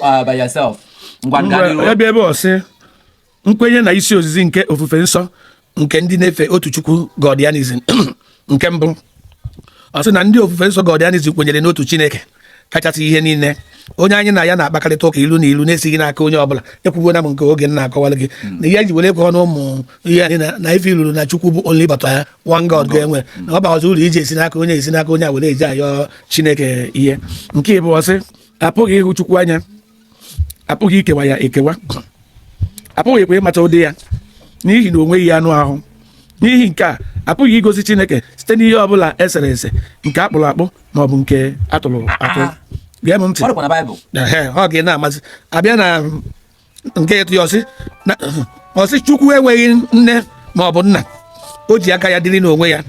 uh, by yourself. ya bịa ebe ọ sị nkwenye na isi ozizi nke ofufe nsọ nke ndị na-efe otu chukwu godianism nke mbụ ọ sị na ndị ofufe nsọ godianism kwenyere n'otu chineke kachasị ihe niile onye anyị na ya na-akpakarịta ụka ilu na ilu na-esighị n'aka onye ọbụla ekwugo na m nke oge m na-akọwara gị na ihe ji were ekwe ọnụ ụmụ ihe anyị na ife iluru na chukwu bụ only but ya one god ga-enwe na ọ baghọzi uru iji esi n'aka onye esi n'aka onye a were eji ayọ chineke ihe nke ịbụọ ọ sị apụghị ịhụ chukwu anya apụghị ikewa ya ekewa apụghịkwa ịmata ụdị ya n'ihi na o nweghị anụ ahụ n'ihi nke a apụghị igosi chineke site n'ihe ọ bụla esere ese nke akpụrụ akpụ ma ọ bụ nke atụrụ atụ gee m ntị ọ dịkwa na baịbụl Ehe, ọ ga na-amasị abịa na nke ịtọ ya ọ sị na- ọ sị chukwu enweghị nne ma ọ bụ nna o ji aka ya dịrị n'onwe ya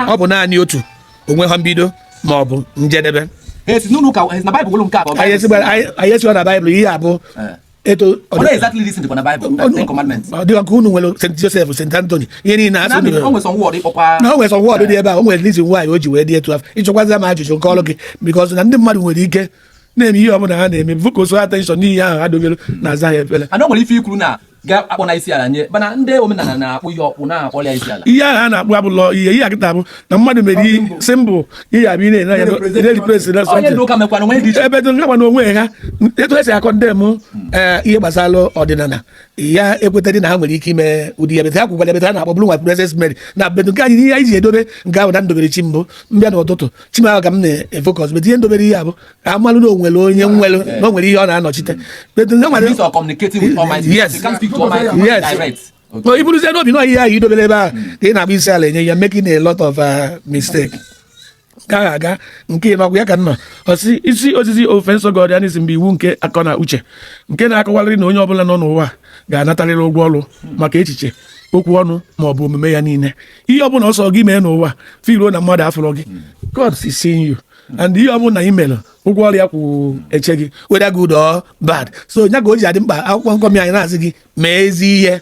ọ bụ naanị otu o nweghị mbido ma ọ bụ njedebe Yes, no, no, ka- eh, na Bible, nke a bụ anyị esigbara- anyị- anyị esiwa na baịbụl ihe a bụ Eh. etu ọ What dị- exactly this in the Bible? ọ- Ten commandments. ọ dịka nke unu nwere st joseph st anthony ihe niile a sị Na unu mere- o nwere some word ịkpọkwa- na o nwere some word dị ebe a o nwere reason why o ji wee dị etu afụ ị jụkwazi m ajụjụ m kọọrọ gị because na ndị mmadụ nwere ike na-eme ihe ọbụla ha na-eme focus attention n'ihe ahụ ha dobere na aza ya efere ana nwere ife ikwuru na ga-akpọ na isi ala nye mana ndị omenala na-akpụ ihe ọkpụ na-akpọ ya isi ala ihe ahụ a na-akpụ abụlọ ihe ihe akịta bụ na mmadụ mere ihe symbol ihe abụ ihe na-enye anya na-erepresent na onye ndị ụka mekwana nwee dị iche ebe dị nka na onwe ha etu esi akọ ndị m eh, ihe gbasara ọdịnala ya ekwetadị na ha nwere ike ime ụdị ya but ha kwukwara ebe ha na-akpọ bụrụ nwa princess mary na but nke anyị ihe anyị ji edobe nke ahụ na m dobere chi m bụ m bịa n'ụtụtụ chi m ahụ ka m na-efocus but ihe m dobere ihe a bụ ka a malụ na o nwere onye nwere na o nwere ihe ọ na-anọchite but ndị nwere These are communicating with Almighty. Yes. They can't speak to Almighty Yes. direct. Okay. No, i buruzie n'obi na ihe ahụ i dobere ebe ahụ ka ị na-agba isi ala enye you are making a lot of uh, mistake ka anyị gaa nke ị nọkwa ya nke anọ ọ sị isi ozizi ofufe nsọ godianism bụ iwu nke akọ na uche nke na-akọwarịrị na onye ọbụla nọ n'ụwa ga-anatarịrị ụgwọ ọrụ maka echiche okwu ọnụ ma ọ bụ omume ya niile ihe ọbụla ọ sọ gị mee n'ụwa if i roo na mmadụ afụrọ gị hmm. God is seeing you and ihe ọbụla ị mere ụgwọ ọrụ ya kwụ eche gị whether good or bad so nya ka o ji adị mkpa akwụkwọ nkọmi anyị na-asị gị mee ezi ihe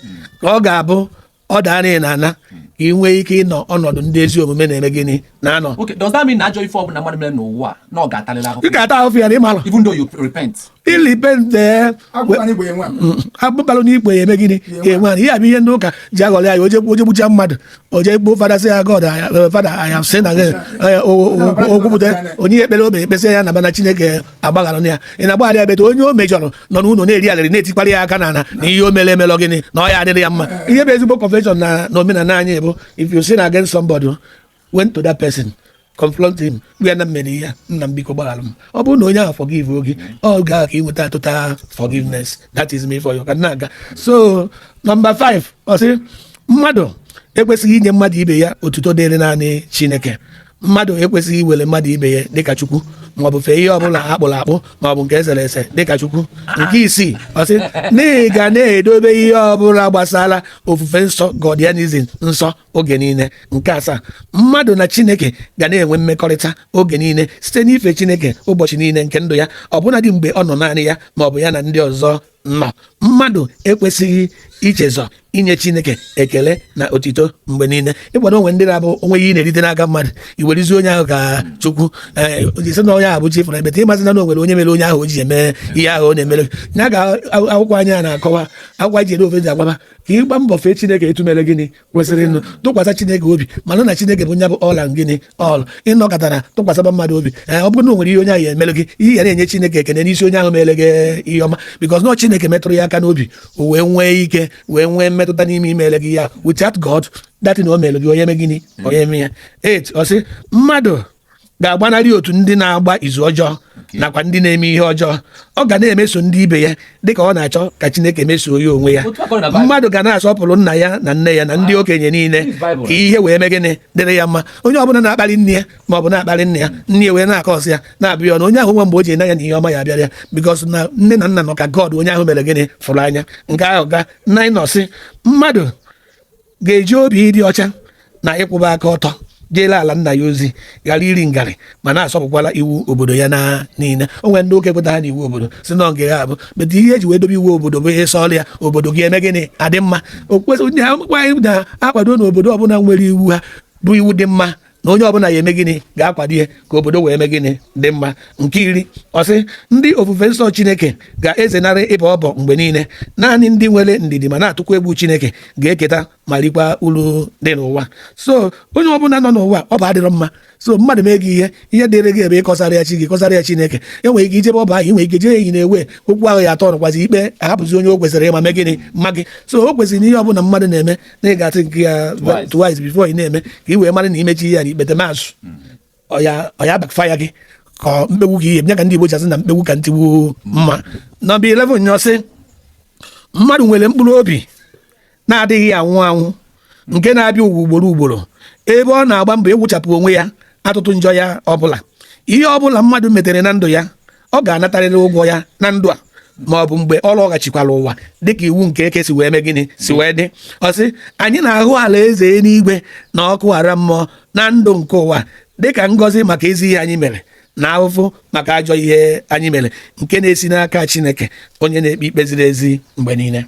ka ọ ga-abụ ọ daara ị naa ana ka ị nwee ike ịnọ ọnọdụ ndị ezi omume na-eme gịnị na-anọ. Okay, does that mean na ajọ ife ọbụla mmadụ mere n'ụwa na ọ ga-atalịlị ahụhụ? Ị ga-ata ahụhụ ya na ịmalụ. Even though you repent. i repent agbụbalụ n'igwe ya eme gịnị enwe ihe a bụ ihe ndị ụka ji aghọrị anyị o je gbucha mmadụ o jekwuo fada sị ya god fada aya sị na o kwupụta o nye ya ekpere o kpee kpesịa ya na mana chineke agbaghara ya ị na-agbaghara ya but onye o mejọrọ nọ n'ụlọ na-eri alịrị na-etikwara ya aka na na ihe o mere emelọ gịnị na ọ ya adịrị ya mma ihe bụ ezigbo confession na omenala anyị bụ if you sin against somebody went to that person confront him gwa na m mere ihe nna m biko gbaghara m ọ bụrụ na onye ahụ forgive oge ahụ ka ị nweta total forgiveness that is me for you ka na-aga so nọmba 5 ọ sị mmadụ ekwesịghị inye mmadụ ibe ya otuto dịrị naanị chineke mmadụ ekwesịghị iwere mmadụ ibe ya dịka chukwu maọbụ fee ihe ọbụla akpụrụ akpụ maọbụ nke esere ese dịka chukwu nke isii ọ sị na ị ga na-edobe ihe ọbụla gbasara ofufe nsọ Godianism nsọ oge niile nke asaa mmadụ na chineke ga na-enwe mmekọrịta oge niile site n'ife chineke ụbọchị niile nke ndụ ya ọbụnadị mgbe ọ nọ naanị ya ma ọ bụ ya na ndị ọzọ nọ mmadụ ekwesịghị ichezọ inye chineke ekele na otito mgbe niile ịkwado o nwe ndị na-abụ o nwe ihe na-erite n'aka mmadụ iwerizi onye ahụ ka chukwu eh, ị sị na onye ahụ bụ chi ị fụrụ but ị masị na o nwere onye mere onye ahụ o ji eme ihe ahụ ọ na-emere ya ka akwụkwọ anyị a na-akọwa akwụkwọ ji ere ofe ji agbaba ka ị gbaa mbọ fee chineke etu o mere gịnị kwesịrị ịnụ tụkwasị chineke obi mara na chineke bụ nya bụ all in all ị nọkata tụkwasịba mmadụ obi eh, ọ bụrụ na o nwere ihe onye ahụ ya emere gị ị ya na-enye chineke ekene n'isi onye ahụ mere gị ihe ọma bikọs na chineke metụrụ ya aka n'obi o wee nwee ike wee nwee mmetụta n'ime imere gị ya without God that thing o mere gị onye eme gịnị onye eme ya 8 ọ sị mmadụ ga-agbanarị otu ndị na-agba izu ọjọọ nakwa ndị na-eme ihe ọjọọ ọ ga na-emeso ndị ibe ya dịka ọ na-achọ ka Chineke mesoo ya onwe ya mmadụ ga na-asọpụrụ nna ya na nne ya na ndị okenye niile ka ihe wee mee gịnị dịrị ya mma onye ọbụla na-akparị nne ya ma ọ bụ na-akparị nna ya nne ya wee na-akọsị ya na-abụ ya ọnụ onye ahụ nwa mgbe o ji n'anya na ihe ọma ya abịara ya because na nne na nna nọ ka God onye ahụ mere gịnị fụrụ anya nke ahụ gaa 9 ọ sị mmadụ ga-eji obi ịdị ọcha na ịkwụba aka ọtọ jeele ala nna ya ozi ghara iri ngarị ma na-asọpụkwala iwu obodo ya niile o nwere ndị oke kwetara na iwu obodo sị na ọ ga-abụ but ihe e ji wee dobe iwu obodo bụ i soro ya obodo gị eme gịnị adị mma okpukpe na-akwado na obodo ọbụla nwere iwu ha bụ iwu dị mma na onye ọbụla ya eme gịnị ga-akwado ihe ka obodo wee eme gịnị dị mma nke iri ọ sị ndị ofufe nsọ chineke ga-ezenarị ịbọ ọbọ mgbe niile naanị ndị nwere ndidi ma na-atụkwa egwu chineke ga-eketa ma rikwa uru dị n'ụwa so onye ọbụla nọ n'ụwa ọbọ adịrọ mma so mmadụ mee gị ihe ihe dịrị gị bụ ịkọsara ya chi gị kọsara ya chineke i nwere ike ijebe ọbọ ahụ nwere ike jee eyi na-ewe okwu ahụ ya atọ nọkwazi ikpe ahapụzi onye o kwesịrị ịma mee gịnị maa gị so o kwesịrị na ihe ọbụla mmadụ na-eme na ị ga-athink ya twice before ị na-eme ka ị wee mara na i mechaa ihe a n'ikpetemazụ ọ ya backfire gị ka mkpegbu gị ihe nye ka ndị Igbo ji asị na mkpegbu ka ntigbu mma nọmba 11 ọ sị mmadụ nwere mkpụrụ obi na-adịghị anwụ anwụ nke na-abịa ụwa ugboro ugboro ebe ọ na-agba mbọ ịwụchapụ onwe ya atụtụ njọ ya ọbụla ihe ọbụla mmadụ metara na ndụ ya ọ ga-anatarịrị ụgwọ ya na ndụ a ma ọ bụ mgbe ọ lọghachikwara ụwa dịka iwu nke eke si wee mee gịnị si wee dị ọ sị anyị na-ahụ alaeze eluigwe na ọkụ ala mmụọ na ndụ nke ụwa dịka ngọzi maka ezi ihe anyị mere na ahụhụ maka ajọ ihe anyị mere nke na-esi n'aka Chineke onye na-ekpe ikpe ziri ezi mgbe niile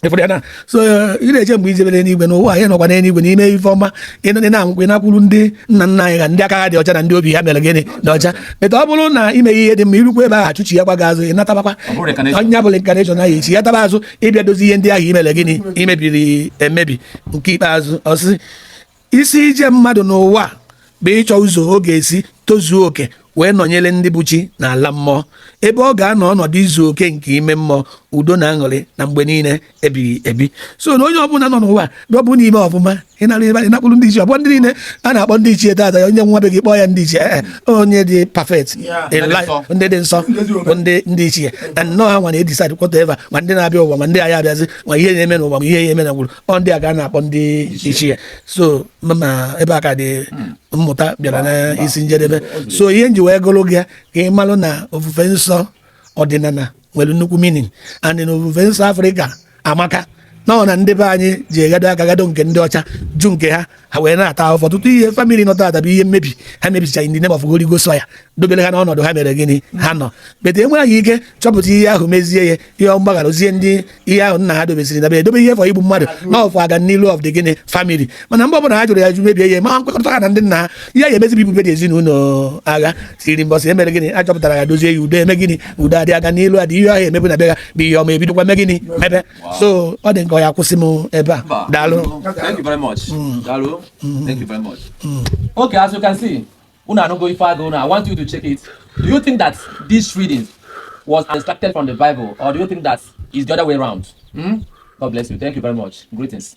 ị fụrụ ya na so ị na-eche mgbe i jebere n'igwe n'ụwa anyị nọkwa n'eluigwe na i mee ife ọma ị na-amụkwa ị nakwuru ndị nna nna anyị ha ndị aka ha dị ọcha na ndị obi ha mere gịnị dị ọcha meta ọ bụrụ na i mee ihe dị mma i rukwa ebe ahụ achụchighakwa gị azụ ị natabakwa ọ ya bụ reincarnation ahụ ị chighataba azụ ị bịa dozi ihe ndị ahụ i mere gịnị i mebiri emebi nke ikpeazụ ọ sị isi ije mmadụ n'ụwa bụ ịchọ ụzọ ọ ga-esi tozuo oke wee nọnyere ndị bụ chi n'ala mmụọ ebe ọ ga-anọ ọnọdụ izu oke nke ime mmụọ udo na aṅụrị na mgbe niile ebighị ebi so na onye ọbụla nọ n'ụwa na ọ bụ na i mee ọfụma ị naa ebe ị nakwuru ndị ichie ọ bụ ndị niile a na-akpọ ndị ichie taata ya onye nwụa be gị kpọọ ya ndị ichie ee eh, eh, onye dị perfect ndị dị nsọ bụ ndị ndị ichie na ọ ha nwa na-edecide whatever ma ndị na-abịa ụwa ma ndị aya abịazi ma ihe na-eme n'ụwa ma ihe ya-eme na gwụrụ ọ ndị a ka a na-akpọ ndị ichie so ma ebe a ka dị mmụta bịara n'isi njedebe so ihe m ji wee gụọlụ gị ka ị malụ na ofufe nsọ ọdịnala nwere nnukwu meaning and na ofufe nsọ Africa amaka na ọ na ndị be anyị jee gado aka gado nke ndị ọcha jụ nke ha ha wee na-ata ahụfụ ọtụtụ ihe family nọ taata bụ ihe mmebi ha mebicha in the name of Holy Ghost ya dobere ha n'ọnọdụ ha mere gịnị ha nọ but enweghị ike chọpụta ihe ahụ mezie ya ihe mgbaghara ozie ndị ihe ahụ nna ha dobesiri dobe edobe ihe for igbu mmadụ na ọ for ọganilu of the gịnị family mana mgbe ọbụla ha jụrụ ya ajụ mebie ihe ma ha nkwekọrịta ha na ndị nna ha ihe ya-emezi bụ igbube ndị ezinụlọ ahụ till mbọsị e mere gịnị a chọpụtara ya dozie ya udo eme gịnị udo adị ọganilu adị ihe ọ ya-emebu na bịa bụ ihe ọma ebidokwa mee gịnị mebe so ọ dị nke ọ ya kwụsị m ebe a daalụ thank you very much mm. daalụ mm. thank you very much mm. okay as you can see unu anụgo ife agụ na i want you to check it do you think that this reading was extracted from the bible or do you think that it's the other way around hmm? god bless you thank you very much greetings